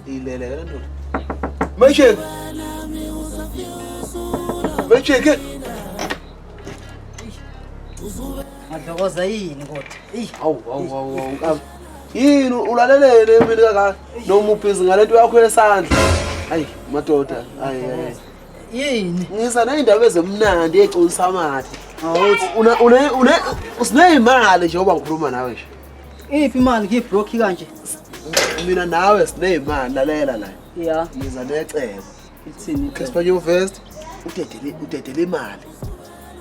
Iyilekelele ndoda. Mayisheke. Mayisheke. Madlokoza yini kodwa? Eyi. Awu awu awu awu. Yini ulalelele mina kaka noma ubhizi ngalento yakho yesandla. Hayi madoda. Hayi hayi. yini ngiza ney'ndaba ezimnandi econisa amathe siney'mali nje oba ngikhuluma nawe nje iphi imali ngiyibroki kanje mina nawe siney'mali lalela la ya ngiza necebo ithini casper nyovest udedele imali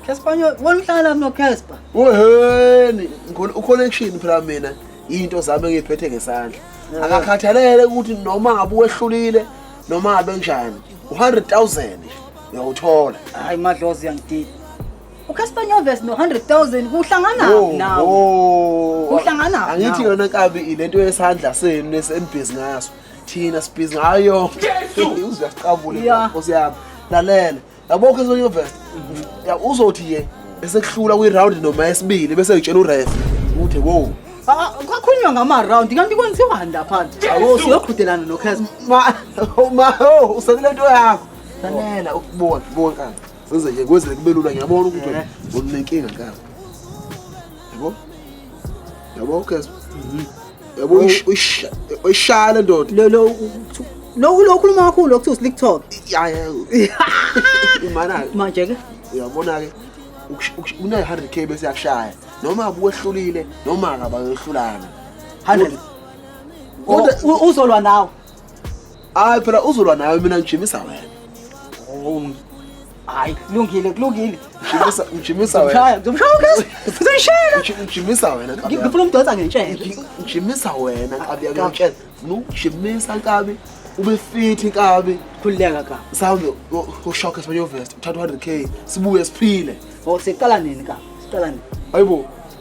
casper wena uhlala lapho nocasper weheni uconnection phela mina yinto zami engiyiphethe ngesandla akakhathalele ukuthi noma ngabe wehlulile noma abe njani u-100,000 uyawuthola hayi madlozi uyangidida ucasper nyoves no-100,000 kuhlangana Oh, nawo oh. Kuhlangana angithi nawo. yona nkabi ilento yesandla senu esenibhizi ngaso thina sibhizi ngayo Yesu! uzuyasiqabule Ya. nkosi yami lalela yabo ke sonye verse ya uzothi ke esekuhlula kwi round noma esibili bese utshela uref ukuthi wow Ah, kwakhulunywa ngama-round kanti kwenziwani lapha awo siyoqhudelana nokheza ma oh, ma oh, usekule nto yakho sanela ukubona bona kaka senze nje kwenzele kube lula ngiyabona ukuthi Eh. unenkinga kaka yabo yabo kheza yabo uyishaya le ndoda lo lo lokhu lokhuluma kakhulu lokuthiwa slick talk ya ya imana manje ke uyabona ke una 100k bese yakushaya noma abuwehlulile noma akabayohlulana 100 uzolwa nawe hayi phela uzolwa nayo mina ngijimisa wena oh, hayi kulungile kulungile ngijimisa ngijimisa wena ngijimisa wena ngifuna umdonsa ngentshela ngijimisa wena nkabi yakutshela ngijimisa nkabi ube fit nkabi khululeka ka mhlawumbe ushoke sibanye uvest uthatha 100 k sibuye siphile oh siqala nini ka siqala nini hayibo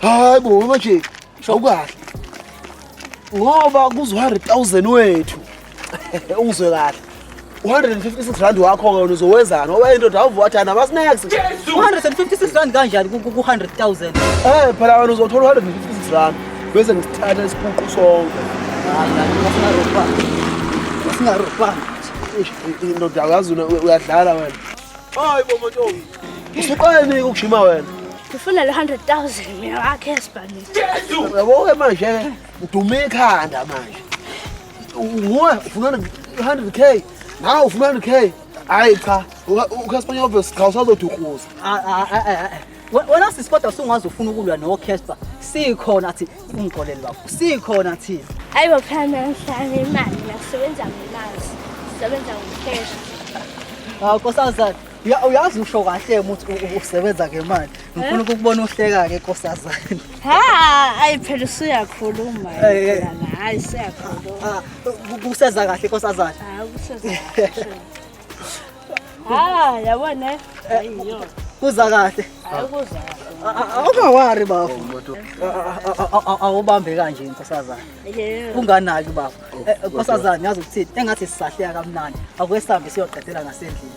hayi bo manje shawukahle ngoba kuzo-100,000 wethu ungizwe kahle 156 rand wakho wena uzowenzani ngoba indoda awuvuwathani abasinex 156 rand kanjani ku-100,000 um eh, phela wena uzothola 156 rand bese ngisithatha isipuqu sonke singarobhanga indoda kazi uyadlala wena hayi bomotomi Usuqaleni ukujima wena. Ngifuna le 100,000 mina wakhe esibhalile. Yabo ke manje ke udume ikhanda manje. Nguwe ufuna 100k, nawe ufuna 100k. Hayi cha, uCasper obvious cha usazodukuza. Wena sisi kodwa usungaze ufuna ukulwa noCasper. Sikhona thi ungixolele bafo. Sikhona thi. Hayi bophela nanhlanje imali nakusebenza ngemazi. Sebenza ngocash. Hawu nkosazana. uyazi usho kahle ukuthi usebenza ngemali ngifuna ukukubona uhleka-ke nkosazane ha ayi phela usuyakhuluma hayi siyakhuluma kuseza kahle nkosazane ha yabona kuza kahle awungawari bafo awubambe kanje nkosazane unganaki bafo eh, nkosazane yazi ukuthini engathi sisahleka kamnandi akuke sihambe siyoqedela ngasendlini